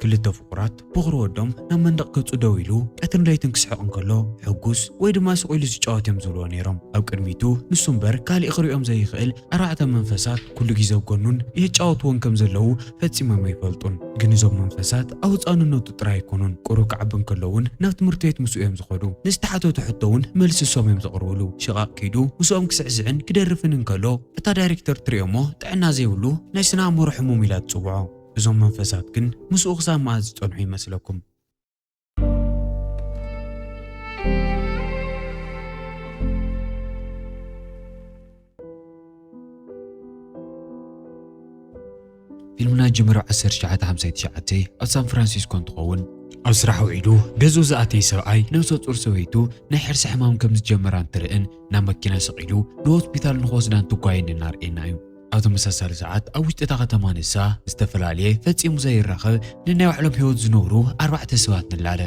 ክልተ ፍቑራት ቦኽሪ ወዶም ናብ መንደቕ ገጹ ደው ኢሉ ቀትርን ለይትን ክስሕቕ እንከሎ ሕጉስ ወይ ድማ ስቕ ኢሉ ዝጫወት እዮም ዝብልዎ ነይሮም። ኣብ ቅድሚቱ ንሱ እምበር ካልእ ክርእዮም ዘይኽእል ኣርባዕተ መንፈሳት ኩሉ ግዜ ኣብ ጎኑን የጫውትዎን ከም ዘለዉ ፈጺሞም ኣይፈልጡን። ግን እዞም መንፈሳት ኣብ ህጻንነቱ ጥራይ ኣይኮኑን፣ ቁሩብ ክዓቢ እንከሎ እውን ናብ ትምህርቲ ቤት ምስኡ እዮም ዝኸዱ። ንዝተሓተቶ ሕቶ እውን መልሲ እሶም እዮም ዘቕርብሉ። ሽቓቕ ከይዱ ምስኦም ክስዕስዕን ክደርፍን እንከሎ እታ ዳይሬክተር ትርእዮ እሞ ጥዕና ዘይብሉ ናይ ስነ ኣእምሮ ሕሙም ኢላ ትጽውዖ። እዞም መንፈሳት ግን ምስኡ ክሳብ መኣስ ዝጸንሑ ይመስለኩም? ፊልምና ጅምር ኣብ 1959 ኣብ ሳን ፍራንሲስኮ እንትኸውን ኣብ ስራሕ ውዒሉ ገዝኡ ዝኣተየ ሰብኣይ ነብሰ ጡር ሰበይቱ ናይ ሕርሲ ሕማም ከም ዝጀመራ እንትርእን ናብ መኪና ሰቒሉ ንሆስፒታል ንክወስዳ እንትጓየን እናርእየና እዩ ኣብ ተመሳሳሊ ሰዓት ኣብ ውሽጢ እታ ከተማ ንሳ ዝተፈላለየ ፈጺሙ ዘይራኸብ ንናይ ባዕሎም ህይወት ዝነብሩ ኣርባዕተ ሰባት ንላለ።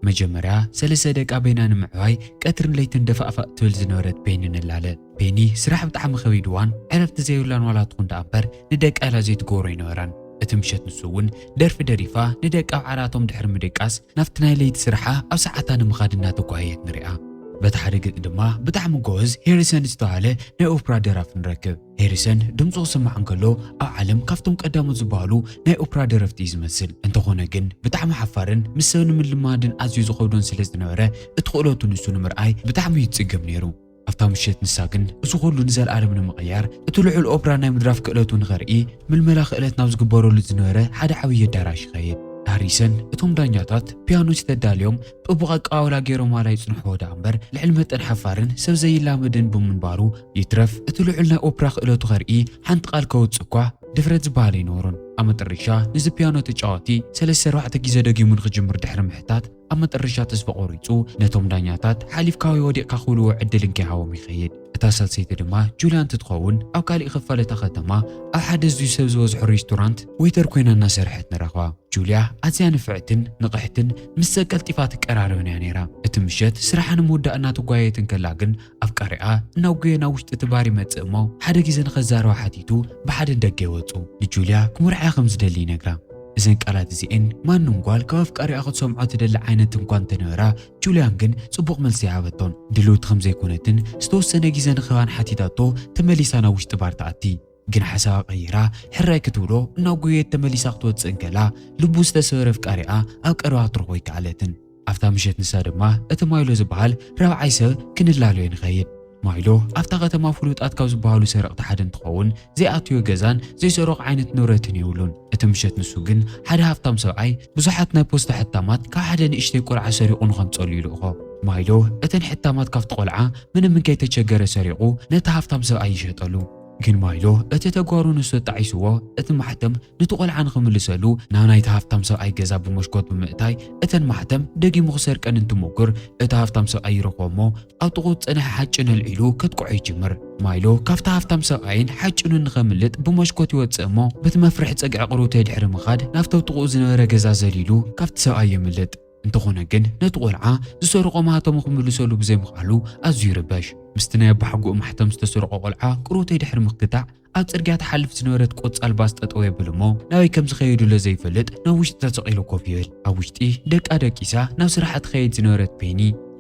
መጀመርያ ሰለስተ ደቃ በይና ንምዕባይ ቀትርን ለይትን ደፋእፋእ ትብል ዝነበረት ቤኒ ንላለ። ቤኒ ስራሕ ብጣዕሚ ከቢድዋን ዕረፍቲ ዘይብላን ዋላ ትኹን ደኣ እምበር ንደቃ ኢላ ዘይትገብሮ ኣይነበራን። እቲ ምሸት ንሱ እውን ደርፊ ደሪፋ ንደቃ ኣብ ዓራቶም ድሕሪ ምድቃስ ናብቲ ናይ ለይቲ ስርሓ ኣብ ሰዓታ ንምኻድ እናተጓየየት ንሪኣ። በቲ ሓደ ገፅ ድማ ብጣዕሚ ጎበዝ ሄሪሰን ዝተባሃለ ናይ ኦፕራ ደራፊ ንረክብ። ሄሪሰን ድምፁ ክስማዕ እንከሎ ኣብ ዓለም ካብቶም ቀዳሞት ዝበሃሉ ናይ ኦፕራ ደረፍቲ እዩ ዝመስል። እንተኾነ ግን ብጣዕሚ ሓፋርን ምስ ሰብ ንምልማድን ኣዝዩ ዝኸብዶን ስለዝነበረ እቲ ክእለቱ ንሱ ንምርኣይ ብጣዕሚ እዩ ዝፅገም ነይሩ። ኣብታ ምሸት ንሳ ግን እዚ ኩሉ ንዘለኣለም ንምቕያር እቲ ልዑል ኦፕራ ናይ ምድራፍ ክእለቱ ንኸርኢ ምልመላ ክእለት ናብ ዝግበረሉ ዝነበረ ሓደ ዓብዪ ኣዳራሽ ይኸይድ ሃሪሰን እቶም ዳኛታት ፒያኖች ተዳልዮም ጥቡቕ ኣቀባብላ ገይሮማላ ይጽንሕዎ ደኣ እምበር ልዕሊ መጠን ሓፋርን ሰብ ዘይላመድን ብምንባሩ ይትረፍ እቲ ልዑል ናይ ኦፕራ ክእለቱ ከርኢ ሓንቲ ቃል ከውጽእ እኳ ድፍረት ዝበሃል ኣይነበሮን ኣብ መጠረሻ ነዚ ፒያኖ ተጫዋቲ ሰለስተ ኣርባዕተ ግዜ ደጊሙ ንክጅምር ድሕሪ ምሕታት ኣብ መጠረሻ ተስፋ ቆሪጹ ነቶም ዳኛታት ሓሊፍካ ወይ ወዲቕካ ክብልዎ ዕድል እንከይሃቦም ይኸይድ። እታ ሳልሰይቲ ድማ ጁልያ እንትትኸውን ኣብ ካሊእ ኽፋል እታ ከተማ ኣብ ሓደ ኣዝዩ ሰብ ዝበዝሖ ሬስቶራንት ወይተር ኮይና እናሰርሐት ንረኽባ። ጁልያ ኣዝያ ንፍዕትን ንቕሕትን ምስ ሰብ ቀልጢፋ ትቀራረብን እያ ነይራ። እቲ ምሸት ስራሓ ንምውዳእ እናተጓየየት እንከላ ግን ኣፍቃሪኣ እናጎየ ናብ ውሽጢ እቲ ባር ይመጽእ እሞ ሓደ ግዜ ንኸዛረባ ሓቲቱ ብሓደ ንደገ ይወጹ። ንጁልያ ክምርዓያ ከም ዝደሊ ይነግራ። እዘን ቃላት እዚኤን ማንም ጓል ካብ ኣፍቃሪኣ ክትሰምዖ ትደሊ ዓይነት እንኳ እንተነበራ ጁልያን ግን ጽቡቕ መልሲ ኣይሃበቶን። ድልውቲ ከም ዘይኮነትን ዝተወሰነ ግዜ ንክህባን ሓቲታቶ ተመሊሳ ናብ ውሽጢ ባር ትኣቲ። ግን ሓሳባ ቀይራ ሕራይ ክትብሎ ናብ ጉየት ተመሊሳ ክትወጽእ እንከላ ልቡ ዝተሰበረ ኣፍቃሪኣ ኣብ ቀረባ ክትረኽቦ ኣይከኣለትን። ኣብታ ምሸት ንሳ ድማ እቲ ማይሎ ዝበሃል ራብዓይ ሰብ ክንላለዮ ንኸይድ። ማይሎ ኣብታ ከተማ ፍሉጣት ካብ ዝበሃሉ ሰረቕቲ ሓደ እንትኸውን ዘይኣትዮ ገዛን ዘይሰረቖ ዓይነት ንብረትን የብሉን። እቲ ምሸት ንሱ ግን ሓደ ሃፍታም ሰብኣይ ብዙሓት ናይ ፖስታ ሕታማት ካብ ሓደ ንእሽተይ ቆልዓ ሰሪቑ ንኸምጸሉ ይልእኾ። ማይሎ እተን ሕታማት ካብቲ ቆልዓ ምንም እንከይተቸገረ ሰሪቑ ነቲ ሃፍታም ሰብኣይ ይሸጠሉ። ግን ማይሎ እቲ ተጓሩ ንሱ ኣጣዒስዎ እቲ ማሕተም ኑቲ ቆልዓ ንኽምልሰሉ ናብ ናይቲ ሃፍታም ሰብኣይ ገዛ ብሞሽኮት ብምእታይ እተን ማሕተም ደጊሙ ክሰርቀን እንትሞክር እቲ ሃፍታም ሰብኣይ ይረኽቦ እሞ ኣብ ጥቕኡ ዝጸንሐ ሓጭን ኣልዒሉ ከጥቅዖ ይጅምር። ማይሎ ካብቲ ሃፍታም ሰብኣይን ሓጭኑን ንኸምልጥ ብሞሽኮት ይወጽእ እሞ በቲ መፍርሒ ጸግዒ ቅርውተይ ድሕሪ ምኻድ ናብቲ ኣብ ጥቕኡ ዝነበረ ገዛ ዘሊሉ ካብቲ ሰብኣይ የምልጥ። እንተኾነ ግን ነቲ ቆልዓ ዝሰርቖ ማህተሙ ክምልሰሉ ብዘይምኽኣሉ ኣዝዩ ይርበሽ። ምስቲ ናይ ኣቦሓጎኡ ማሕተም ዝተሰርቖ ቆልዓ ቅርውተይ ድሕሪ ምክታዕ፣ ኣብ ጽርግያ ትሓልፍ ዝነበረት ቆጻል ባስ ጠጠው የብል እሞ ናበይ ከም ዝኸየዱለ ዘይፈልጥ ናብ ውሽጢ ተሰቒሉ ኮፍ ይብል። ኣብ ውሽጢ ደቃ ደቂሳ ናብ ስራሓ ትኸይድ ዝነበረት ፔኒ፣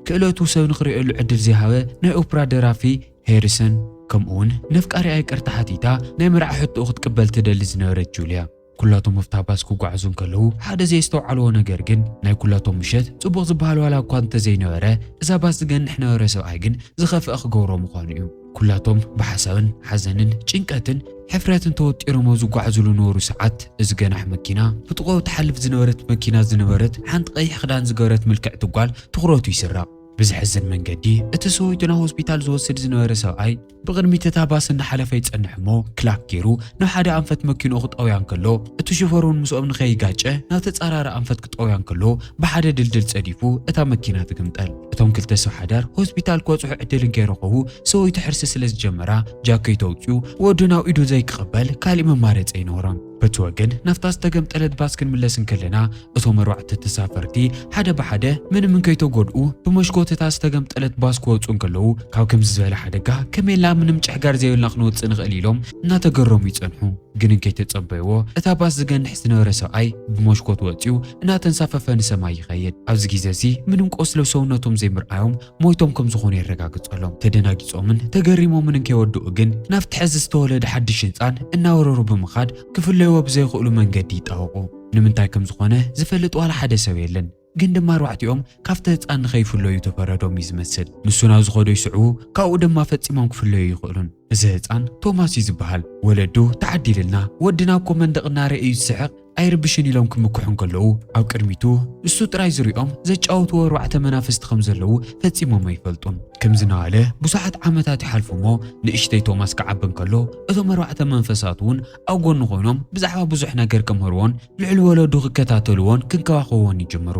ክእለቱ ሰብ ንኽርእየሉ ዕድል ዘይሃበ ናይ ኦፕራ ደራፊ ሄሪሰን ከምኡውን ነፍቃሪኣ ይቅርታ ሓቲታ ናይ መርዓ ሕቶኡ ክትቅበል ትደሊ ዝነበረት ጁልያ፣ ኩላቶም ኣብታ ባስ ክጓዓዙ እንከለዉ ሓደ ዘየስተውዓልዎ ነገር ግን ናይ ኩላቶም ምሸት ጽቡቕ ዝበሃል ዋላ እኳ እንተዘይነበረ እዛ ባስ ዝገንሕ ነበረ ሰብኣይ ግን ዝኸፍኣ ክገብሮ ምዃኑ እዩ። ኩላቶም ብሓሳብን ሓዘንን ጭንቀትን ሕፍረትን ተወጢሮም ኣብ ዝጓዓዙሉ ነበሩ ሰዓት እዚ ገናሕ መኪና ብጥቕኡ ትሓልፍ ዝነበረት መኪና ዝነበረት ሓንቲ ቀይሕ ክዳን ዝገበረት ምልክዕቲ ጓል ትኹረቱ ይስረቕ። ብዘሕዝን መንገዲ እቲ ሰበይቱ ናብ ሆስፒታል ዝወስድ ዝነበረ ሰብኣይ፣ ብቕድሚት እታ ባስ እናሓለፈ ይጸንሕ እሞ ክላክ ገይሩ ናብ ሓደ ኣንፈት መኪንኡ ክጠውያ እንከሎ እቲ ሹፈር እውን ምስኦም ንኸይጋጨ ናብ ተጻራሪ ኣንፈት ክጠውያ እንከሎ ብሓደ ድልድል ጸዲፉ እታ መኪና ትግምጠል። እቶም ክልተ ሰብ ሓዳር ሆስፒታል ክበጽሑ ዕድል እንከይረኸቡ ሰበይቱ ሕርሲ ስለ ዝጀመራ ጃከይቱ ኣውጺኡ ወዱ ናብ ኢዱ ዘይክቕበል ካሊእ መማረጺ ኣይነበሮን። በቲ ወገን ናብታ ዝተገምጠለት ባስ ክንምለስ እንከለና እቶም ኣርባዕተ ተሳፈርቲ ሓደ ብሓደ ምንም እንከይተጎድኡ ብመስኮት እታ ዝተገምጠለት ባስ ክወፁ እንከለዉ ካብ ከምዚ ዝበለ ሓደጋ ከመይልና ምንም ጭሕጋር ዘይብልና ክንወፅእ ንኽእል ኢሎም እናተገረሙ ይፀንሑ። ግን እንከይተጸበይዎ እታ ባስ ዝገንሕ ዝነበረ ሰብኣይ ብመስኮት ወፂኡ እናተንሳፈፈ ንሰማይ ይኸይድ። ኣብዚ ግዜ እዚ ምንም ቆስሊ ሰውነቶም ዘይምርኣዮም ሞይቶም ከም ዝኾኑ የረጋግጸሎም። ተደናጊጾምን ተገሪሞምን እንከይወድኡ ግን ናብቲ ሕዚ ዝተወለደ ሓድሽ ህንጻን እናወረሩ ብምኻድ ክፍለይዎ ብዘይኽእሉ መንገዲ ይጣወቑ። ንምንታይ ከም ዝኾነ ዝፈልጥ ዋላ ሓደ ሰብ የለን። ግን ድማ ኣርባዕቲኦም ካብቲ ህጻን ንኸይፍለዩ ተፈረዶም እዩ ዝመስል። ንሱ ናብ ዝኸዶ ይስዕቡ፣ ካብኡ ድማ ፈጺሞም ክፍለዩ ኣይኽእሉን። እዚ ህጻን ቶማስ እዩ ዝበሃል። ወለዱ ተዓዲልልና፣ ወድና እኮ መንደቕ እናረኤ እዩ ዝስሕቕ፣ ኣይርብሽን ኢሎም ክምክሑ እንከለዉ ኣብ ቅድሚቱ ንሱ ጥራይ ዝሪኦም ዘጫወትዎ ኣርባዕተ መናፍስቲ ከም ዘለዉ ፈጺሞም ኣይፈልጡን። ከምዚ እናበለ ብዙሓት ዓመታት ይሓልፉ እሞ ንእሽተይ ቶማስ ክዓቢ እንከሎ እቶም ኣርባዕተ መንፈሳት እውን ኣብ ጎኑ ኮይኖም ብዛዕባ ብዙሕ ነገር ከምህርዎን ልዕሊ ወለዱ ክከታተልዎን ክንከባኸብዎን ይጅምሩ።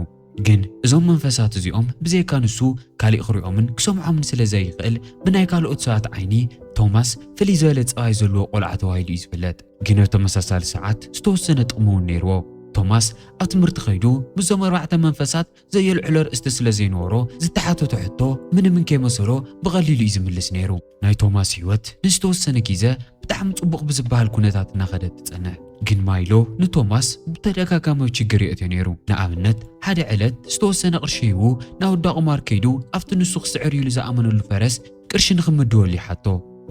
ግን እዞም መንፈሳት እዚኦም ብዘይካ ንሱ ካሊእ ክሪኦምን ክሰምዖምን ስለ ዘይኽእል ብናይ ካልኦት ሰባት ዓይኒ ቶማስ ፍልይ ዝበለ ፀባይ ዘለዎ ቆልዓ ተባሂሉ እዩ ዝፍለጥ። ግን ኣብ ተመሳሳሊ ሰዓት ዝተወሰነ ጥቕሚ እውን ነይርዎ። ቶማስ ኣብ ትምህርቲ ከይዱ ምስዞም ኣርባዕተ መንፈሳት ዘየልዕሎ ኣርእስቲ ስለ ዘይነበሮ ዝተሓተቶ ሕቶ ምንምን ከይመሰሎ ብቐሊሉ እዩ ዝምልስ ነይሩ። ናይ ቶማስ ህይወት ንዝተወሰነ ግዘ ብጣዕሚ ጽቡቕ ብዝበሃል ኩነታት እናኸደት ትጸንሕ። ግን ማይሎ ንቶማስ ብተደጋጋሚ ችግር የእትዮ ነይሩ። ንኣብነት ሓደ ዕለት ዝተወሰነ ቅርሺ ሂቡ ናውዳ ቁማር ከይዱ ኣብቲ ንሱ ክስዕር ኢሉ ዝኣመነሉ ፈረስ ቅርሺ ንክምድበሉ ይሓቶ።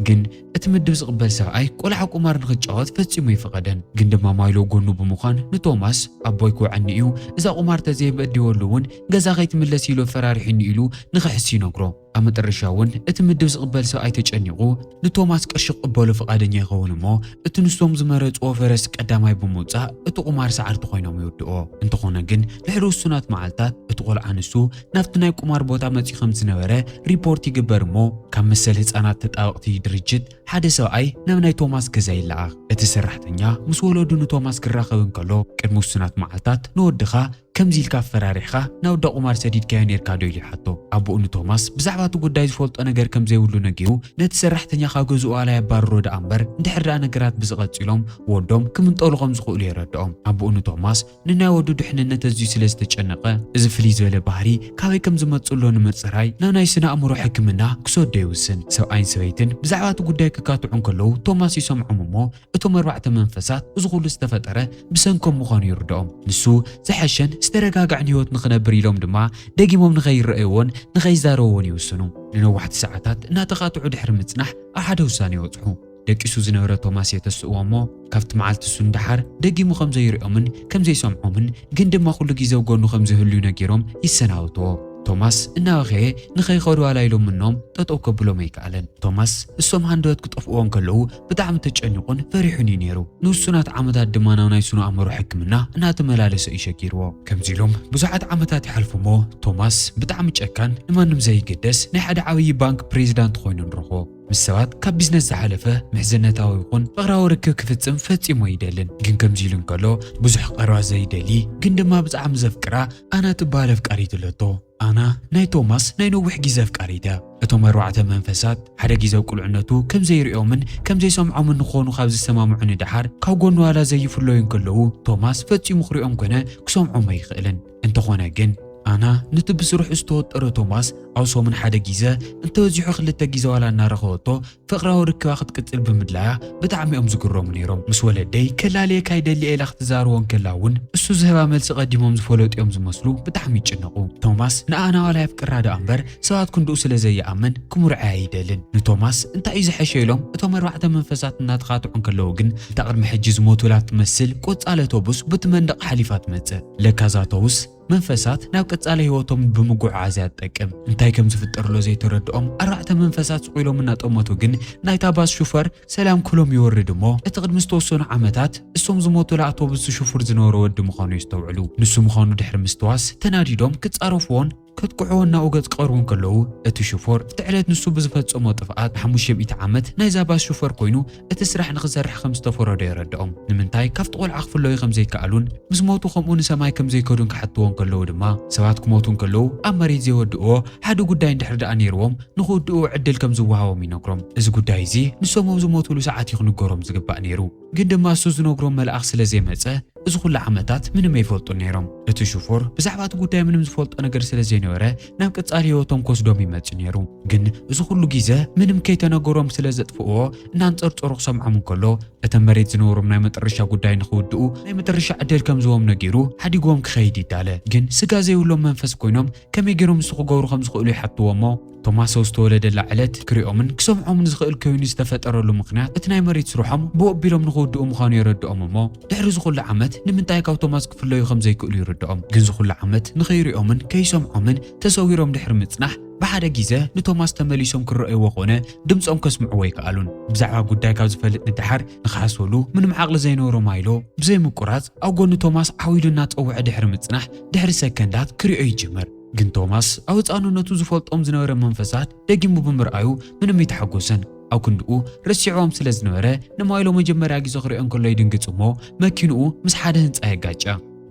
ግን እቲ ምድብ ዝቕበል ሰብኣይ ቆልዓ ቁማር ንክትጫወት ፈጺሙ ኣይፈቐደን። ግን ድማ ማይሎ ጎኑ ብምዃን ንቶማስ ኣቦይ ክውዐኒ እዩ እዛ ቁማር ተዘይምእዲወሉ እውን ገዛ ከይትምለስ ኢሉ ኣፈራሪሑኒ ኢሉ ንክሕስ ይነግሮ። ኣብ መጠረሻ እውን እቲ ምድብ ዝቕበል ሰብኣይ ተጨኒቑ ንቶማስ ቅርሺ ክቕበሎ ፍቓደኛ ይኸውን እሞ እቲ ንሶም ዝመረጽዎ ፈረስ ቀዳማይ ብምውጻእ እቲ ቁማር ሰዓርቲ ኮይኖም ይውድኦ። እንተኾነ ግን ድሕሪ ውሱናት መዓልታት እቲ ቆልዓ ንሱ ናብቲ ናይ ቁማር ቦታ መጺኡ ከም ዝነበረ ሪፖርት ይግበር እሞ ካብ መሰል ህጻናት ተጣበቕቲ ድርጅት ሓደ ሰብኣይ ናብ ናይ ቶማስ ገዛ ይለኣኽ። እቲ ሰራሕተኛ ምስ ወለዱ ንቶማስ ክራኸብ እንከሎ ቅድሚ ውሱናት መዓልታት ንወድኻ ከምዚ ኢልካ ኣፈራሪሕኻ ናብ እንዳ ቁማር ሰዲድካዮ ኔርካ ዶ ኢሉ ይሓቶ። ኣቡኡ ንቶማስ ብዛዕባ እቲ ጉዳይ ዝፈልጦ ነገር ከም ዘይብሉ ነጊሩ ነቲ ሰራሕተኛ ካብ ገዝኡ ኣላይ ኣባርሮ ደኣ እምበር እንድሕር ደኣ ነገራት ብዚ ቀጺሎም ወዶም ክምንጠሉ ከም ዝኽእሉ የረድኦም። ኣቡኡ ንቶማስ ንናይ ወዱ ድሕንነት ኣዝዩ ስለ ዝተጨነቐ፣ እዚ ፍልይ ዝበለ ባህሪ ካበይ ከም ዝመጽእሎ ንምጽራይ ናብ ናይ ስነ ኣእምሮ ሕክምና ክሰዶ ይውስን። ሰብኣይን ሰበይትን ብዛዕባ እቲ ጉዳይ ክካትዑ እንከለዉ ቶማስ ይሰምዖም እሞ፣ እቶም ኣርባዕተ መንፈሳት እዚ ኩሉ ዝተፈጠረ ብሰንኮም ምዃኑ ይርድኦም። ንሱ ዝሐሸን ዝተረጋግዐን ህይወት ንኽነብር ኢሎም ድማ ደጊሞም ንኸይረኣይዎን ንኸይዛረብዎን ይውስኑ። ንነዋሕቲ ሰዓታት እናተቓጥዑ ድሕሪ ምጽናሕ ኣብ ሓደ ውሳነ ይበጽሑ። ደቂሱ ዝነበረ ቶማስ የተስእዎ እሞ ካብቲ መዓልቲ እሱ ንደሓር ደጊሙ ከም ዘይሪኦምን ከም ዘይሰምዖምን ግን ድማ ኩሉ ግዜ ኣብ ጎኑ ከም ዝህልዩ ነጊሮም ይሰናበትዎ። ቶማስ እናበኸየ ንኸይኸዱ ኣላይሎም ምኖም ጠጠው ከብሎም ኣይከኣለን። ቶማስ እሶም ሃንደበት ክጠፍእዎ እንከለዉ ብጣዕሚ ተጨኒቑን ፈሪሑን እዩ ነይሩ። ንውሱናት ዓመታት ድማ ናብ ናይ ስነ-ኣእምሮ ሕክምና እናተመላለሰ እዩ ሸጊርዎ። ከምዚ ኢሎም ብዙሓት ዓመታት ይሓልፉ እሞ ቶማስ ብጣዕሚ ጨካን ንማንም ዘይግደስ ናይ ሓደ ዓብዪ ባንክ ፕሬዚዳንት ኾይኑ ንረኽቦ። ምስ ሰባት ካብ ቢዝነስ ዝሓለፈ ምሕዝነታዊ ይኹን ፍቕራዊ ርክብ ክፍፅም ፈፂሙ ኣይደልን። ግን ከምዚ ኢሉ እንከሎ ብዙሕ ቀረባ ዘይደሊ ግን ድማ ብጣዕሚ ዘፍቅራ ኣና ትበሃል ኣፍቃሪት ኣለቶ። ኣና ናይ ቶማስ ናይ ነዊሕ ግዜ ኣፍቃሪት እያ። እቶም ኣርባዕተ መንፈሳት፣ ሓደ ግዜ ኣብ ቁልዕነቱ ከም ዘይርእዮምን ከም ዘይሰምዖምን ንክኾኑ ካብ ዝሰማምዑ ንደሓር፣ ካብ ጎኑ ዋላ ዘይፍለዩ እንከለዉ፣ ቶማስ ፈጺሙ ክርእዮም ኮነ ክሰምዖም ኣይክእልን። እንተኾነ ግን፣ ኣና ነቲ ብስርሑ ዝተወጠረ ቶማስ፣ ኣብ ሰሙን ሓደ ግዜ፣ እንተበዚሑ ክልተ ግዜ ዋላ እናረኸበቶ ፍቕራዊ ርክባ ክትቅጽል ብምድላያ ብጣዕሚ'ዮም ዝግረሙ ነይሮም። ምስ ወለደይ ከላልየካ ይደሊ'የ ኢላ ክትዛረቦ እንከላ እውን እሱ ዝህባ መልሲ ቀዲሞም ዝፈለጡ'ዮም ዝመስሉ ብጣዕሚ ይጭነቑ። ቶማስ ንኣ ናዋላ የፍቅራ ደኣ እምበር ሰባት ክንድኡ ስለ ዘይኣምን ክምርዖ'ያ ኣይደልን። ንቶማስ እንታይ'ዩ ዝሐሸ ኢሎም እቶም ኣርባዕተ መንፈሳት እናተኻትዑ እንከለዉ ግን እታ ቅድሚ ሕጂ ዝሞቱላ እትመስል ቆጻል ኣቶቡስ ቡቲ መንደቕ ሓሊፋ ትመጽእ። ለካ እዛ ኣቶቡስ መንፈሳት ናብ ቀጻሊ ህይወቶም ብምጉዕዓዝ እያ ትጠቅም። እንታይ ከም ዝፍጠርሎ ዘይተረድኦም ኣርባዕተ መንፈሳት ስቕ ኢሎም እናጠመቱ ግን ናይታ ባስ ሹፈር ሰላም ክሎም ይወርድ እሞ እቲ ቅድሚ ዝተወሰኑ ዓመታት እሶም ዝሞቱላ ኣውቶቡስ ዝሽፉር ዝነበረ ወዲ ምዃኑ የስተውዕሉ። ንሱ ምዃኑ ድሕሪ ምስትዋስ ተናዲዶም ክጻረፍዎን ከጥቅዕዎ እናኡ ገጽ ክቐርቡ ከለዉ እቲ ሹፈር እቲ ዕለት ንሱ ብዝፈጸሞ ጥፍኣት ንሓሙሽተ ሚእቲ ዓመት ናይዛ ባስ ሹፈር ኮይኑ እቲ ስራሕ ንኽሰርሕ ከም ዝተፈረዶ የረድኦም። ንምንታይ ካብቲ ቆልዓ ክፍለዩ ከም ዘይከኣሉን ምስ ሞቱ ከምኡ ንሰማይ ከም ዘይከዱን ክሓትዎ እንከለዉ ድማ፣ ሰባት ክሞቱ እንከለዉ ኣብ መሬት ዘይወድእዎ ሓደ ጉዳይ እንድሕሪ ደኣ ነይርዎም ንኽውድእዎ ዕድል ከም ዝወሃቦም ይነግሮም። እዚ ጉዳይ እዚ ንሶም ኣብ ዝሞቱሉ ሰዓት እዩ ክንገሮም ዝግባእ ነይሩ። ግን ድማ እሱ ዝነግሮም መልኣኽ ስለ ዘይመጸ እዚ ኩሉ ዓመታት ምንም ኣይፈልጡን ነይሮም። እቲ ሽፎር ብዛዕባ እቲ ጉዳይ ምንም ዝፈልጦ ነገር ስለ ዘይነበረ ናብ ቀጻሊ ህይወቶም ክወስዶም ይመጽእ ነይሩ ግን እዚ ኩሉ ግዜ ምንም ከይተነገሮም ስለ ዘጥፍእዎ እናንጸርጸሩ ክሰምዖም እንከሎ እተን መሬት ዝነበሮም ናይ መጠረሻ ጉዳይ ንክውድኡ ናይ መጠረሻ ዕድል ከም ዝቦም ነጊሩ ሓዲግዎም ክኸይድ ይዳለ ግን ስጋ ዘይብሎም መንፈስ ኮይኖም ከመይ ገይሮም ንሱ ክገብሩ ከም ዝኽእሉ ይሓትዎ እሞ ቶማስ ኣብ ዝተወለደላ ዕለት ክሪኦምን ክሰምዖምን ዝኽእል ኮይኑ ዝተፈጠረሉ ምኽንያት እቲ ናይ መሬት ስርሖም ብኡ ኣቢሎም ንክውድኡ ምዃኑ የረድኦም እሞ ድሕሪ እዚ ኹሉ ዓመት ንምንታይ ካብ ቶማስ ክፍለዩ ከም ዘይክእሉ ይርድኦም። ግን እዚ ኹሉ ዓመት ንኸይሪኦምን ከይሰምዖምን ተሰዊሮም ድሕሪ ምጽናሕ፣ ብሓደ ጊዘ ንቶማስ ተመሊሶም ክረእይዎ ኮነ ድምጾም ከስምዕዎ ኣይከኣሉን። ብዛዕባ ጉዳይ ካብ ዝፈልጥ ንደሓር ንኽሓስበሉ ምንም ዓቕሊ ዘይነበሮ ማይሎ ብዘይ ምቁራጽ ኣብ ጎኒ ቶማስ ዓው ኢሉ እናጸወዐ ድሕሪ ምጽናሕ ድሕሪ ሰከንዳት ክሪኦ ይጅምር። ግን ቶማስ ኣብ ህጻንነቱ ዝፈልጦም ዝነበረ መንፈሳት ደጊሙ ብምርኣዩ ምንም ኣይተሓጎሰን። ኣብ ክንድኡ ረሲዕዎም ስለ ዝነበረ ንማይሎ መጀመርያ ግዜ ክሪኦ እንከሎ ይድንግጽ እሞ መኪንኡ ምስ ሓደ ህንጻ የጋጫ።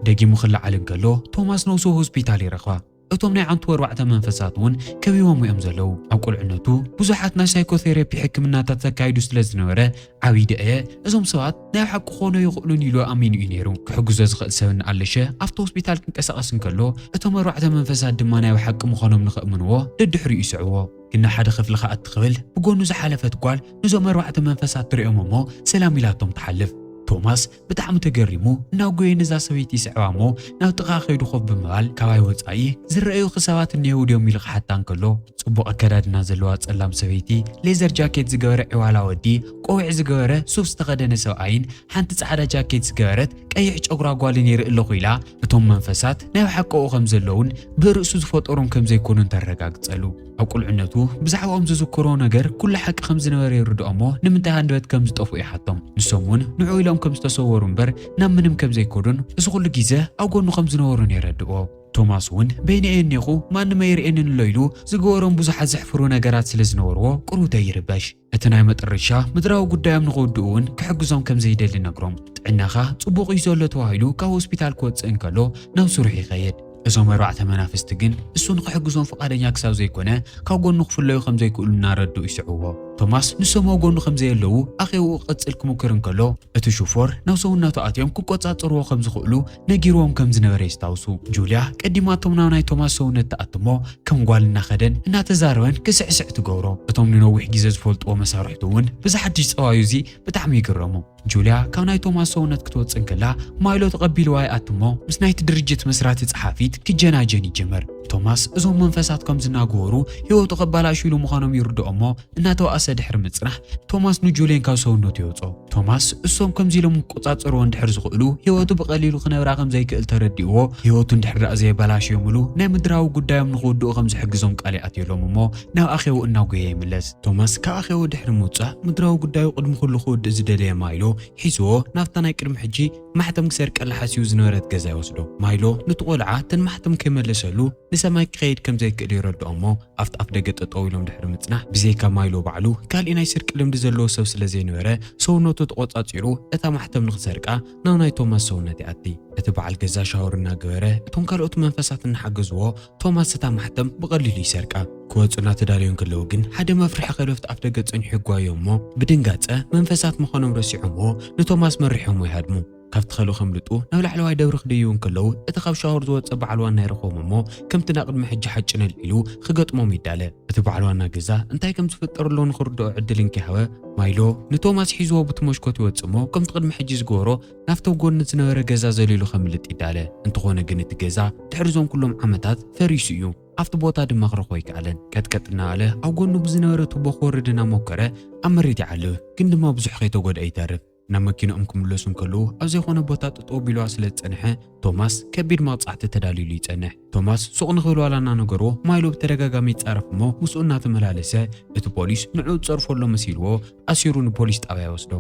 ደጊሙ ክለዓል እንከሎ ቶማስ ነውሱ ሆስፒታል ይረኽባ። እቶም ናይ ዓንቱ ኣርባዕተ መንፈሳት እውን ከቢቦምዎ እዮም ዘለዉ። ኣብ ቁልዕነቱ ብዙሓት ናይ ሳይኮቴሬፒ ሕክምናታት ዘካይዱ ስለ ዝነበረ ዓብዪ ደኣየ እዞም ሰባት ናይ ሓቂ ክኾኑ ኣይኽእሉን ኢሉ ኣሚኑ እዩ ነይሩ። ክሕግዞ ዝኽእል ሰብ እናኣለሸ ኣብቲ ሆስፒታል ክንቀሳቐስ እንከሎ እቶም ኣርባዕተ መንፈሳት ድማ ናይ ብሓቂ ምዃኖም ንኸእምንዎ ደድሕሪኡ ይስዕብዎ። ግና ሓደ ክፍሊ ክኣቲ ክብል ብጎኑ ዝሓለፈት ጓል ንዞም ኣርባዕተ መንፈሳት ትሪኦም እሞ ሰላም ኢላቶም ትሓልፍ። ቶማስ ብጣዕሚ ተገሪሙ እናጎየ ነዛ ሰበይቲ ይስዕባ እሞ ናብ ጥቓ ከይዱ ኮፍ ብምባል ካባይ ወፃኢ ዝረኣዩኺ ሰባት እኒሀው ድዮም ኢሉ ክሓታ እንከሎ ፅቡቕ ኣከዳድና ዘለዋ ፀላም ሰበይቲ ሌዘር ጃኬት ዝገበረ ዒዋላ ወዲ ቆቢዕ ዝገበረ ሱፍ ዝተኸደነ ሰብኣይን ሓንቲ ጻዕዳ ጃኬት ዝገበረት ቀይሕ ጨጉራ ጓልን ይርኢ ኣለኹ ኢላ እቶም መንፈሳት ናይ ብሓቀኡ ከም ዘለዉን ብርእሱ ዝፈጠሮም ከም ዘይኮኑን ተረጋግጸሉ። ኣብ ቁልዕነቱ ብዛዕባኦም ዝዝክሮ ነገር ኩሉ ሓቂ ከም ዝነበረ ይርድኦ እሞ ንምንታይ ሃንደበት ከም ዝጠፍኡ ይሓቶም። ንሶም እውን ንዑ ኢሎም ከም ዝተሰወሩ እምበር ናብ ምንም ከም ዘይከዱን እዚ ኩሉ ግዜ ኣብ ጎኑ ከም ዝነበሩን የረድኦ። ቶማስ እውን በይነይ እየ እኔኹ ማንም ኣይርእየንን ኣሎ ኢሉ ዝገበሮም ብዙሓት ዘሕፍሩ ነገራት ስለ ዝነበርዎ ቁሩብ ዘይርበሽ እቲ ናይ መጠረሻ ምድራዊ ጉዳዮም ንኽውድኡ እውን ክሕግዞም ከም ዘይደሊ ነግሮም። ጥዕናኻ ጽቡቕ እዩ ዘሎ ተባሂሉ ካብ ሆስፒታል ክወጽእ እንከሎ ናብ ስርሑ ይኸይድ። እዞም ኣርባዕተ መናፍስቲ ግን እሱ ንኽሕግዞም ፍቓደኛ ክሳብ ዘይኮነ ካብ ጎኑ ክፍለዩ ከም ዘይክእሉ እናረድኡ ይስዕብዎ። ቶማስ ንሶም ኣብ ጎኑ ከም ዘየለዉ ኣኼባኡ ክቕጽል ክሙክር እንከሎ እቲ ሽፎር ናብ ሰውነቱ ኣትዮም ክቆጻጸርዎ ከም ዝኽእሉ ነጊርዎም ከም ዝነበረ የስታውሱ። ጁልያ ቀዲማቶም ናብ ናይ ቶማስ ሰውነት ትኣቱ እሞ ከም ጓል እናኸደን እናተዛረበን ክስዕስዕ ትገብሮ። እቶም ንነዊሕ ግዜ ዝፈልጥዎ መሳርሕቱ እውን በዚ ሓድሽ ጸባዩ እዚ ብጣዕሚ ይግረሙ። ጁልያ ካብ ናይ ቶማስ ሰውነት ክትወጽእ እንከላ ማይሎ ተቐቢልዋ ይኣቱ እሞ ምስ ናይቲ ድርጅት መስራቲ ጸሓፊት ክጀናጀን ይጅምር። ቶማስ እዞም መንፈሳት ከም ዝናገወሩ ህይወቱ ከባላሽውሉ ምዃኖም ይርድኦ እሞ እናተባእሰ ድሕሪ ምጽናሕ ቶማስ ንጁልየን ካብ ሰውነቱ የውጽኦ። ቶማስ እሶም ከምዚ ኢሎም ክቆጻጸርዎ እንድሕር ዝኽእሉ ህይወቱ ብቐሊሉ ክነብራ ከም ዘይክእል ተረዲእዎ ህይወቱ እንድሕር ደኣ ዘየበላሽዮምሉ ናይ ምድራዊ ጉዳዮም ንኽውድኡ ከም ዝሕግዞም ቃል ይኣትየሎም እሞ ናብ ኣኼቡ እናጎየ ይምለስ። ቶማስ ካብ ኣኼቡ ድሕሪ ምውጻእ ምድራዊ ጉዳዩ ቅድሚ ኩሉ ክውድእ ዝደለየ ማይሎ ሒዝዎ ናብታ ናይ ቅድሚ ሕጂ ማሕተም ክሰርቀላ ሓሲቡ ዝነበረት ገዛ ይወስዶ። ማይሎ ኑቲ ቆልዓ ተን ማሕተም ከይመለሰሉ ንሰማይ ክኸይድ ከም ዘይክእል የረድኦ'ሞ ኣብቲ ኣፍደገ ጠጠው ኢሎም ድሕሪ ምጽናሕ ብዘይካ ማይሎ ባዕሉ ካልእ ናይ ስርቂ ልምዲ ዘለዎ ሰብ ስለ ዘይነበረ ሰውነቱ ተቖጻጺሩ እታ ማሕተም ንኽሰርቃ ናብ ናይ ቶማስ ሰውነት ይኣቲ። እቲ በዓል ገዛ ሻወር እናገበረ እቶም ካልኦት መንፈሳት እናሓገዝዎ ቶማስ እታ ማሕተም ብቐሊሉ ይሰርቃ። ክወጹ እናተዳለዩ እንከለዉ ግን ሓደ መፍርሒ ከልቢ ኣብቲ ኣፍደገ ጸኒሑ ይጓየ'ሞ ብድንጋጸ መንፈሳት ምዃኖም ረሲዖምዎ ንቶማስ መሪሖምዎ ይሃድሙ። ካብ ትኸሉ ከምልጡ ናብ ላዕለዋይ ደብሪ ክድይቡ እንከለዉ እቲ ካብ ሻወር ዝወጸ በዓል ዋና ይረኽቦም እሞ ከምቲ ናብ ቅድሚ ሕጂ ሓጭነል ኢሉ ክገጥሞም ይዳለ። እቲ በዓል ዋና ገዛ እንታይ ከም ዝፍጠርሎ ንኽርድኦ ዕድል እንከይሃበ ማይሎ ንቶማስ ሒዝዎ ቡቲ መሽኮት ይወጽእ እሞ ከምቲ ቅድሚ ሕጂ ዝገበሮ ናብቲ ኣብ ጎድኒ ዝነበረ ገዛ ዘሊሉ ከምልጥ ይዳለ። እንተኾነ ግን እቲ ገዛ ድሕሪ እዞም ኩሎም ዓመታት ፈሪሱ እዩ። ኣብቲ ቦታ ድማ ክረኽቦ ኣይከኣለን። ቀጥቀጥ እናበለ ኣብ ጎድኑ ብዝነበረ ቱቦ ክወርድ እናሞከረ ኣብ መሬት ይዓልብ ግን ድማ ብዙሕ ከይተጎድኣ ይተርፍ። ናብ መኪንኦም ክምለሱ እንከለዉ ኣብ ዘይኮነ ቦታ ጠጠው ቢልዋ ስለ ዝጸንሐ ቶማስ ከቢድ መቕጻዕቲ ተዳልዩሉ ይጸንሕ። ቶማስ ሱቕ ንኽብልዋላ እናነገሮ ማይሎ ብተደጋጋሚ ይጻረፍ እሞ ምስኡ እናተመላለሰ እቲ ፖሊስ ንዕኡ ዝጸርፎ ኣሎ መሲልዎ ኣሲሩ ንፖሊስ ጣብያ ይወስዶ።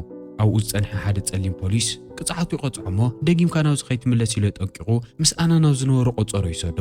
ኣብኡ ዝጸንሐ ሓደ ጸሊም ፖሊስ ቅጽዓቱ ይቐጽዖ እሞ ደጊምካ ናብዚ ከይትምለስ ኢሉ ኣጠንቂቑ ምስ ኣና ናብ ዝነበሮ ቆጸሮ ይሰዶ።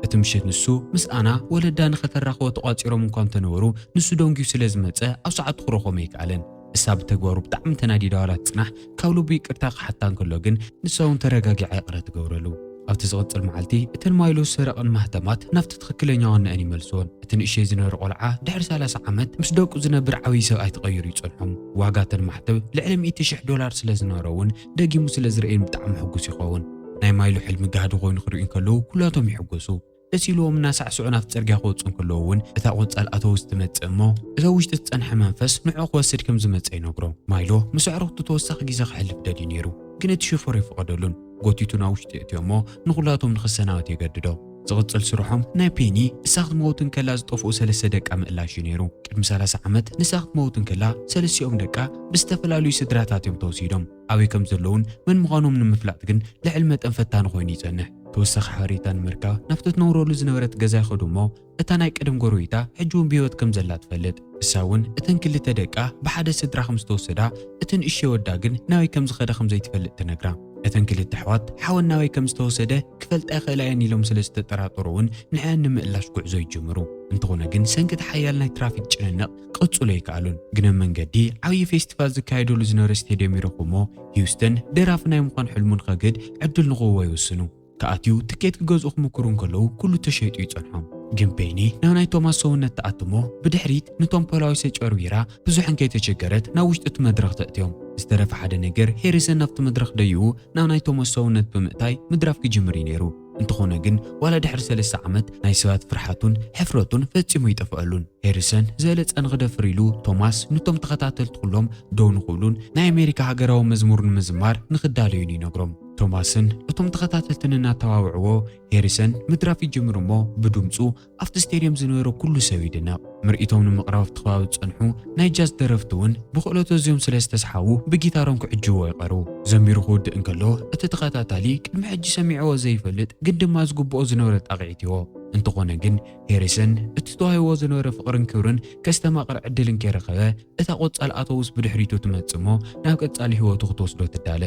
እቲ ምሽት ንሱ ምስ ኣና ወለዳ ንኸተራኽቦ ተቋጺሮም እንኳ እንተነበሩ ንሱ ደንጉዩ ስለ ዝመጸ ኣብ ሰዓቱ ክረኽቦም ኣይከኣለን። ንሳ ብተግባሩ ብጣዕሚ ተናዲዳ ዋላ ትጽናሕ ካብ ልቡ ይቅርታ ክሓታ እንከሎ ግን ንሳ ውን ተረጋጊዓ ይቅረ ትገብረሉ። ኣብቲ ዝቅጽል መዓልቲ እተን ማይሎ ዝሰረቀን ማህተማት ናብቲ ትክክለኛ ዋንኣን ይመልስወን። እቲ ንእሸይ ዝነረ ቆልዓ ድሕሪ ሰላሳ ዓመት ምስ ደቁ ዝነብር ዓብይ ሰብኣይ ተቀይሩ ይጸንሖም። ዋጋ እተን ማሕተብ ልዕሊ ሚእቲ ሽሕ ዶላር ስለ ዝነሮ ውን ደጊሙ ስለ ዝርእየን ብጣዕሚ ሕጉስ ይከውን። ናይ ማይሎ ሕልሚ ጋህዲ ኮይኑ ክርእዩ እንከለዉ ኩላቶም ይሕጎሱ። ደስ ኢልዎም እናሳዕስዑ ናብቲ ጽርግያ ክወጹ እንከለዉ እውን እታ ቆንጻል ኣቶ ውስ ትመጽእ እሞ እቲ ኣብ ውሽጢ ዝጸንሐ መንፈስ ንዕኡ ክወስድ ከም ዝመጸ ይነግሮ። ማይሎ ምስ ኣዕሩኽቱ ተወሳኺ ግዜ ከሕልፍ ደልዩ ነይሩ፣ ግን እቲ ሹፈር ኣይፈቐደሉን። ጎቲቱ ናብ ውሽጢ የእትዮ'ሞ ንኹላቶም ንኽሰናበት የገድዶ። ዝቕጽል ስርሖም ናይ ፔኒ ንሳ ክትመውት እንከላ ዝጠፍኡ ሰለስተ ደቃ ምእላሽ እዩ ነይሩ። ቅድሚ ሰላሳ ዓመት ንሳ ክትመውት እንከላ ሰለስቲኦም ደቃ ብዝተፈላለዩ ስድራታት እዮም ተወሲዶም። ኣበይ ከም ዘለዉን መን ምዃኖም ንምፍላጥ ግን ልዕሊ መጠን ፈታኒ ኮይኑ ይጸንሕ። ተወሳኺ ሓበሬታ ንምርካብ ናብቲ ትነብረሉ ዝነበረት ገዛ ይኸዱ እሞ እታ ናይ ቀደም ጎረቤታ ሕጂ እውን ብህይወት ከም ዘላ ትፈልጥ። ንሳ እውን እተን ክልተ ደቃ ብሓደ ስድራ ከም ዝተወሰዳ፣ እቲ ንእሽቶ ወዳ ግን ናበይ ከም ዝኸደ ከም ዘይትፈልጥ ትነግራ። እተን ክልተ ኣሕዋት ሓወን ናበይ ከም ዝተወሰደ ክፈልጣ ይኽእላ እየን ኢሎም ስለ ዝተጠራጠሩ እውን ንዕዐን ንምእላሽ ጉዕዞ ይጅምሩ። እንተኾነ ግን ሰንኪ እቲ ሓያል ናይ ትራፊክ ጭንንቕ፣ ክቕጽሉ ኣይከኣሉን። ግነ መንገዲ ዓብዪ ፌስቲቫል ዝካየደሉ ዝነበረ ስቴድየም ይረኽቡ'ሞ ሂውስተን ደራፊ ናይ ምዃን ሕልሙ ንኸግህድ ዕድል ንኽህቦ ይውስኑ። ክኣትዩ ትኬት ክገዝኡ ክምኩሩ እንከለዉ ኩሉ ተሸይጡ ይጸንሖም። ግን ፔኒ ናብ ናይ ቶማስ ሰውነት ትኣቱ'ሞ ብድሕሪት ንቶም ፖላዊስ ኣጭበርቢራ ብዙሕ እንከይተቸገረት ናብ ውሽጢ እቲ መድረኽ ተእትዮም። ዝተረፈ ሓደ ነገር ሄሪሰን ናብቲ መድረኽ ደይቡ ናብ ናይ ቶማስ ሰውነት ብምእታይ ምድራፍ ክጅምር እዩ ነይሩ። እንተኾነ ግን ዋላ ድሕሪ ሰለስተ ዓመት ናይ ሰባት ፍርሓቱን ሕፍረቱን ፈጺሙ ኣይጠፍኣሉን። ሄሪሰን ዝበለጸ ንኽደፍር ኢሉ ቶማስ ንቶም ተኸታተልቲ ኩሎም ደው ንኽብሉን ናይ ኣሜሪካ ሃገራዊ መዝሙር ንምዝማር ንኽዳለዩን ይነግሮም። ቶማስን እቶም ተኸታተልትን እናተባብዕዎ ሄሪሰን ምድራፍ ይጅምር እሞ ብድምጹ ኣብቲ ስቴድየም ዝነበረ ኩሉ ሰብ ይድነቕ። ምርኢቶም ንምቕራብ ኣብቲ ከባቢ ዝጸንሑ ናይ ጃዝ ደረፍቲ እውን ብኽእለቱ ኣዝዮም ስለ ዝተስሓቡ ብጊታሮም ክዕጅብዎ ይቐርቡ። ዘሚሩ ክውድእ እንከሎ እቲ ተኸታታሊ ቅድሚ ሕጂ ሰሚዕዎ ዘይፈልጥ ግን ድማ ዝግብኦ ዝነበረ ጣቕዒት ይሆ። እንተኾነ ግን ሄሪሰን እቲ ተዋሂብዎ ዝነበረ ፍቕርን ክብርን ከስተማቕር ዕድል እንከይረኸበ እታ ቆጻል ኣተውስ ብድሕሪቱ ትመጽእ እሞ ናብ ቀጻሊ ህይወቱ ክትወስዶ ትዳለ።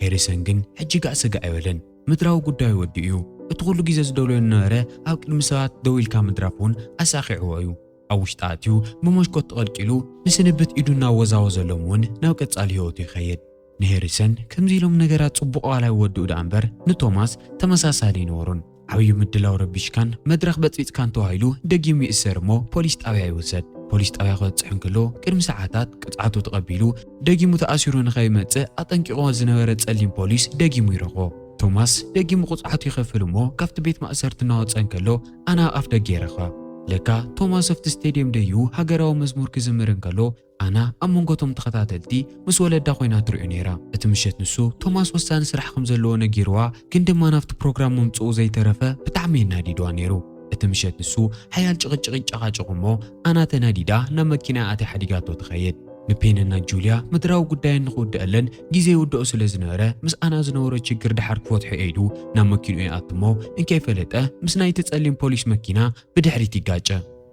ሄሪሰን ግን ሕጂ ጋእ ስጋእ ኣይበለን። ምድራዊ ጉዳዩ ወዲኡ እዩ። እቲ ኹሉ ግዜ ዝደልዮ ዝነበረ ኣብ ቅድሚ ሰባት ደው ኢልካ ምድራፍ እውን ኣሳኺዕዎ እዩ። ኣብ ውሽጣ ኣትዩ ብመሽኮት ተቐልቂሉ ንስንብት ኢዱ እናወዛወዘሎም እውን ናብ ቀጻሊ ህይወቱ ይኸይድ። ንሄሪሰን ከምዚ ኢሎም ነገራት ጽቡቕ ዋላ ይወድኡ ደኣ እምበር ንቶማስ ተመሳሳሊ ኣይነበሮን። ዓብዩ ምድላው ረቢሽካን መድረኽ በጽቢጽካን ተባሂሉ ደጊም ይእሰር እሞ ፖሊስ ጣብያ ይውሰድ። ፖሊስ ጣብያ ክበጽሕ እንከሎ ቅድሚ ሰዓታት ቅጽዓቱ ተቐቢሉ፣ ደጊሙ ተኣሲሩ ንኸይመጽእ ኣጠንቂቕዎ ዝነበረ ጸሊም ፖሊስ ደጊሙ ይረኽቦ። ቶማስ ደጊሙ ቅጽዓቱ ይኸፍል እሞ ካብቲ ቤት ማእሰርቲ እናወጸ እንከሎ ኣነ ኣብ ኣፍ ደገ ይረኽባ። ለካ ቶማስ ኣብቲ ስቴድየም ደይቡ ሃገራዊ መዝሙር ክዝምር እንከሎ ኣና ኣብ መንጎ እቶም ተኸታተልቲ ምስ ወለዳ ኮይና ትሪኦ ነይራ። እቲ ምሸት ንሱ ቶማስ ወሳኒ ስራሕ ከም ዘለዎ ነጊርዋ ግን ድማ ናብቲ ፕሮግራም ምምጽኡ ዘይተረፈ ብጣዕሚ የናዲድዋ ነይሩ። እቲ ምሸት ንሱ ሓያል ጭቕጭቕን ጨቓጨቑ እሞ ኣና ተናዲዳ ናብ መኪናኣ ኣትያ ሓዲጋቶ ትኸይድ። ንፔንና ጁልያ ምድራዊ ጉዳየን ንኽውደኣለን ግዜ ይውደኦ ስለ ዝነበረ ምስ ኣና ዝነበሮ ችግር ደሓር ክፈትሖ'የ ኢሉ ናብ መኪንኡ ይኣቱ እሞ እንከይፈለጠ ምስ ናይቲ ጸሊም ፖሊስ መኪና ብድሕሪት ይጋጨ።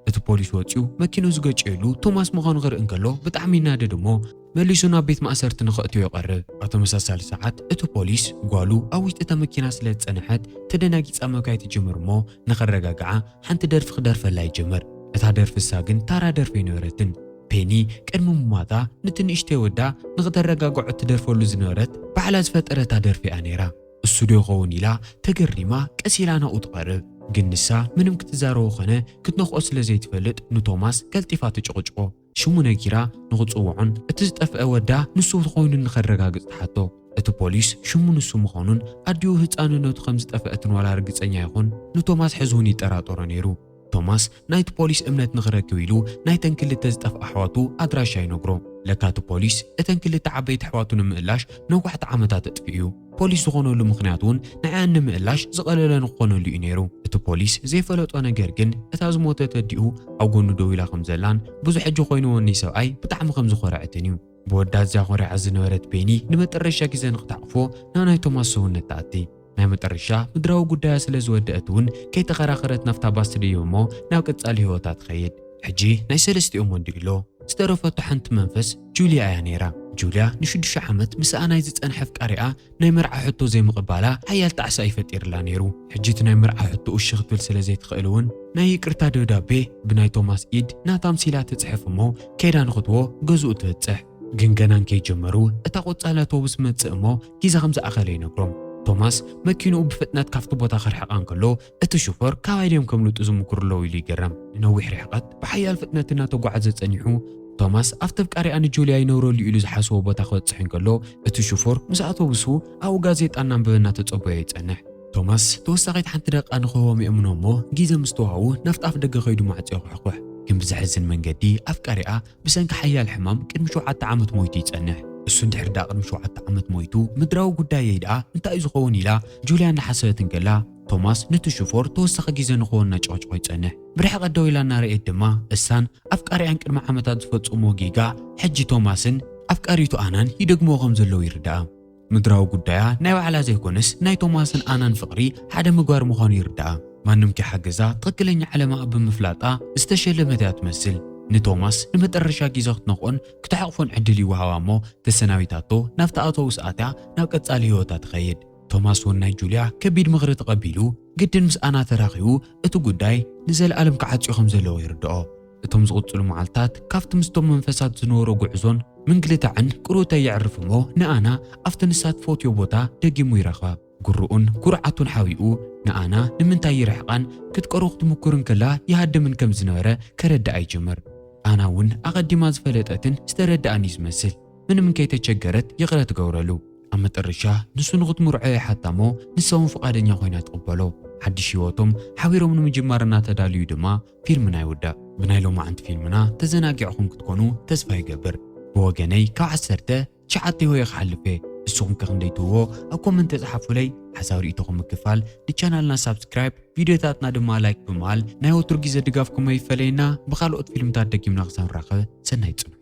እቲ ፖሊስ ወጺኡ መኪንኡ ዝገጨየሉ ቶማስ ምዃኑ ክርኢ እንከሎ ብጣዕሚ ይናደድ እሞ መሊሱ ናብ ቤት ማእሰርቲ ንኸእትዮ ይቐርብ። ኣብ ተመሳሳሊ ሰዓት እቲ ፖሊስ ጓሉ ኣብ ውሽጢ እታ መኪና ስለ ዝጸንሐት ተደናጊጻ ምብካይ ትጅምር እሞ ንኸረጋግዓ ሓንቲ ደርፊ ክደርፈላ ይጅምር። እታ ደርፊ እሳ ግን ታራ ደርፊ ኣይነበረትን። ፔኒ ቅድሚ ምሟታ ንቲ ንእሽተይ ወዳ ንኽተረጋግዖ እትደርፈሉ ዝነበረት ባዕላ ዝፈጠረታ ደርፊ እያ ነይራ። እሱ ዶ ይኸውን ኢላ ተገሪማ ቀስ ኢላ ናብኡ ትቐርብ። ግን ንሳ ምንም ክትዛረቦ ኸነ ክትነኽኦ ስለ ዘይትፈልጥ ንቶማስ ቀልጢፋ ትጭቕጭቆ። ሽሙ ነጊራ ንኽጽውዖን እቲ ዝጠፍአ ወዳ ንሱ ኾይኑ ንኸረጋግጽ ትሓቶ። እቲ ፖሊስ ሽሙ ንሱ ምዃኑን ኣዲኡ ህጻንነቱ ከም ዝጠፍአትን ዋላ ርግጸኛ ይኹን ንቶማስ ሕዝውን ይጠራጠሮ ነይሩ። ቶማስ ናይቲ ፖሊስ እምነት ንኽረክብ ኢሉ ናይተን ክልተ ዝጠፍኣ ኣሕዋቱ ኣድራሻ ይነግሮ። ለካ እቲ ፖሊስ እተን ክልተ ዓበይቲ ኣሕዋቱ ንምእላሽ ነዋሕቲ ዓመታት ኣጥፊኡ'ዩ። ፖሊስ ዝኾነሉ ምኽንያት እውን ንዕኣን ንምእላሽ ዝቐለለ ንክኾነሉ እዩ ነይሩ። እቲ ፖሊስ ዘይፈለጦ ነገር ግን እታ ዝሞተት ኣዲኡ ኣብ ጎኑ ደው ኢላ ከም ዘላን ብዙ ሕጂ ኮይኑዎኒ ሰብኣይ ብጣዕሚ ከም ዝኾረዐትን እዩ። ብወዳ ኣዝያ ኮሪዓ ዝነበረት ቤኒ ንመጠረሻ ግዜ ንክትሓቁፎ ናብ ናይ ቶማስ ሰውነት ትኣቲ። ናይ መጠረሻ ምድራዊ ጉዳያ ስለ ዝወደእት እውን ከይተኸራኸረት ናብታ ባስ ትድይብ እሞ ናብ ቀጻሊ ህይወታ ትኸይድ። ሕጂ ናይ ሰለስቲኦም ወንድኢሎ ዝተረፈቶ ሓንቲ መንፈስ ጁልያ እያ ነይራ። ጁልያ ንሽዱሽተ ዓመት ምስኣ ናይ ዝጸንሐ ኣፍቃሪኣ ናይ መርዓ ሕቶ ዘይምቕባላ ሓያል ጣዕሳ እዩ ፈጢርላ ነይሩ። ሕጂ እቲ ናይ መርዓ ሕቶኡ እሺ ክትብል ስለ ዘይትኽእል እውን ናይ ይቅርታ ደብዳቤ ብናይ ቶማስ ኢድ ናታ ኣምሲላ ትጽሕፍ እሞ ከይዳ ንኽትዎ ገዝኡ ትብጽሕ። ግን ገና እንከይጀመሩ እታ ቆጻል ኣውቶቡስ መጽእ እሞ ጊዛ ከም ዝኣኸለ ይነግሮም። ቶማስ መኪንኡ ብፍጥነት ካብቲ ቦታ ከርሕቓ እንከሎ እቲ ሹፈር ካባይ ድዮም ከምልጡ ዝምኩሩ ኣለው ኢሉ ይገረም። ንነዊሕ ርሕቐት ብሓያል ፍጥነት እናተጓዕዘ ጸኒሑ፣ ቶማስ ኣብቲ ኣፍቃሪኣ ንጁልያ ይነብረሉ ኢሉ ዝሓሰቦ ቦታ ክበጽሕ እንከሎ፣ እቲ ሹፈር ምስ ኣውቶቡሱ ኣብኡ ጋዜጣ እናንበበ እናተጸበዮ ይጸንሕ። ቶማስ ተወሳኺት ሓንቲ ደቓ ንኽህቦም የእምኖ እሞ ግዜ ምስ ተዋህቡ ናብቲ ኣፍደገ ከይዱ ማዕጾ የኹሕኩሕ። ግን ብዘሕዝን መንገዲ ኣፍቃሪኣ ብሰንኪ ሓያል ሕማም ቅድሚ ሸውዓተ ዓመት ሞይቱ ይጸንሕ። እሱ እንድሕር ድኣ ቅድሚ ሸውዓተ ዓመት ሞይቱ ምድራዊ ጉዳየይ ድኣ እንታይ'ዩ ዝኸውን ኢላ ጁልያ እናሓሰበት እንከላ፣ ቶማስ ነቲ ሽፎር ተወሳኺ ግዜ ንኽወን እናጨቕጨቖ ይጸንሕ። ብርሕቐት ደው ኢላ እናረኣየት ድማ፣ እሳን ኣፍቃሪኣን ቅድሚ ዓመታት ዝፈጸምዎ ጌጋ ሕጂ ቶማስን ኣፍቃሪቱ ኣናን ይደግምዎ ከም ዘለዉ ይርድኣ። ምድራዊ ጉዳያ ናይ ባዕላ ዘይኮነስ ናይ ቶማስን ኣናን ፍቕሪ ሓደ ምግባር ምዃኑ ይርድኣ። ማንም ከይሓገዛ ትኽክለኛ ዓለማ ኣብ ብምፍላጣ ዝተሸለመት እያ ትመስል። ንቶማስ ንመጠረሻ ግዜ ክትነኽኦን ክትሓቕፎን ዕድል ይወሃባ እሞ ተሰናቢታቶ ናብቲ ኣውቶቡስ ኣትያ ናብ ቀጻሊ ህይወታ ትኸይድ። ቶማስ እውን ናይ ጁልያ ከቢድ ምኽሪ ተቐቢሉ ግድን ምስ ኣና ተራኺቡ እቲ ጉዳይ ንዘለኣለም ክዓጽዮ ከም ዘለዎ ይርድኦ። እቶም ዝቕጽሉ መዓልታት ካብቲ ምስቶም መንፈሳት ዝነበሮ ጉዕዞን ምንግልታዕን ቅርውታ የዕርፍ እሞ ንኣና ኣብቲ ንሳ ትፈትዮ ቦታ ደጊሙ ይረኽባ። ጉርኡን ጉርዓቱን ሓቢኡ ንኣና ንምንታይ ይርሕቓን ክትቀርቦ ክትምኩር እንከላ ይሃድምን ከም ዝነበረ ከረድኣ ይጅምር። ኣና እውን ኣቐዲማ ዝፈለጠትን ዝተረድኣን እዩ ዝመስል ምንም እንከይተቸገረት ይቕረ ትገብረሉ። ኣብ መጠረሻ ንሱ ንኽትምርዖ ይሓታ እሞ ንሳውን ፍቓደኛ ኮይና ትቕበሎ። ሓድሽ ህይወቶም ሓቢሮም ንምጅማር እናተዳልዩ ድማ ፊልምና ይውዳእ። ብናይ ሎማዕንቲ ፊልምና ተዘናጊዕኹም ክትኮኑ ተስፋ ይገብር። ብወገነይ ካብ ዓሰርተ ትሽዓተ ሆየ ክሓልፍ እየ። ንስኹም ከ ክንደይ ትህቦ ኣብ ኮመንት ጸሓፉለይ። ሓሳብ ርኢቶኹም ምክፋል ንቻናልና ሳብስክራይብ ቪድዮታትና ድማ ላይክ ብምባል ናይ ወትሩ ግዜ ድጋፍኩም ኣይፈለየና። ብኻልኦት ፊልምታት ደጊምና ክሳብ ንራኸብ ሰናይ ጽንሑ።